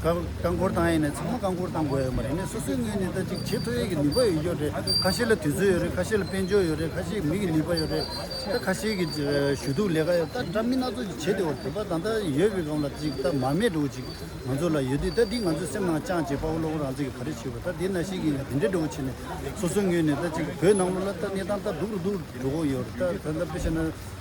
རྐང་འཁོར་བཏང་ཡས་ནས་ཚང་མ་རྐང་འཁོར་བཏང་དགོས་ཡོད་མ་རེད་ནས་སོ་སོའི་ངོས་ནས་ད་ཅིག་བྱེད་མཐོ་ཡས་ཀྱི་ནུས་པ་ཡོད་ཀྱོ་རེད་ཁ་ཤས་ལ་དུས་ཚོད་ཡོད་རེད་ཁ་ཤས་ལ་དཔལ་འབྱོར་ཡོད་རེད་ཁ་ཤས་མིག་གི་ནུས་པ་ཡོད་རེད་ད་ཁ་ཤས་ཀྱི་ཞུ་གཏུག་ལས་ཀ་ཡོད་ད་འདྲ་མི་སྣ་ཚོགས་ཀྱི་བྱེད་དེ་འོ་དེ་པ་ད་ལྟ་ཡོད་པའི་སྒང་ལ་ཅིག་ད་མར་མེ་འགྲོ་བོ་ཅིག་ང་ཚོ་ལ་ཡོད་དུས་ད་འདི་ང་ཚོའི་སེམས་ནང་བཅངས་བྱས་དཔའ་བོ་བློ་བོ་རང་ཚིག་གི་ག་རེ་བྱས་བོ་ད་འདི་ན་ཤེས་ཀྱིན་ཡོད་དེ་འདྲས་འགྲོ་བོ་བྱས་ནས་སོ་སོའི་ངོས་ནས་ད་ཅིག་བོད་ནང་ལོ་ལ་ད་གནས་སྟངས་ད་སྡུག་རུ་འདུག་འགྲོ་གོ་ཡོད་རེད་ད་ད་ལྟ་བོད་ཤ་ན།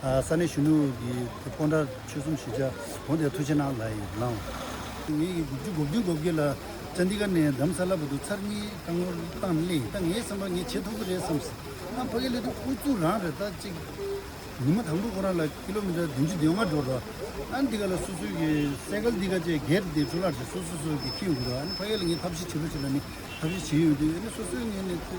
ས་གནས་གཞོན་ནུ་ཡི་སྤོ་འདྲ་ཆོལ་གསུམ་ཞི་བྱ་གོང་དེ་ཐུ་ཆེ་ནང་ལ་ཡིན་ལང། ངེད་ཡིག་དགུ་བཅུ་གོ་བདུན་གོ་བརྒྱད་ལ་ཅན་ཏི་ཀ་ནས་འདམ་ས་ལ་བུ་དུ་ཚར་གཉིས་ལྟ་ངོ་བཏང་སླེ་ད་ངའི་བསམ་པར་ངས་བྱེད་ཐུབ་ཀི་རེད་བསམ་སྲིད་ཨ་ཕ་གི་སླེ་དུ་ཨུ་ཚུགས་རང་རེད་ད་ཅིག་ཉི་མ་དང་པོ་ཁོ་རང་ལ་ཀི་ལོ་མི་ཏྲ་བདུན་ཅུ་བདུན་ལྔ་འགྲོ་འགྲོ་ཨ་འདི་ག་ལ་སུ་སུ་གི་སའི་གལ་འདི་ག་བཅས་སྒེར་དེ་འཕྲུ་ལར་ཞིག་སུ་སུ་སུ་གི་ཁྱི་འགུ་རོ་ཨ་ཕ་གི་ལ་ངས་ཐབས་ཤེས་བྱེད་རོ་བྱེད་ལ་ནི་ཐབས་ཤེས་བྱེད་ཡོང་དུས་ཨ་ནི་སོ་སོའི་ངས་ནི་ཐུ།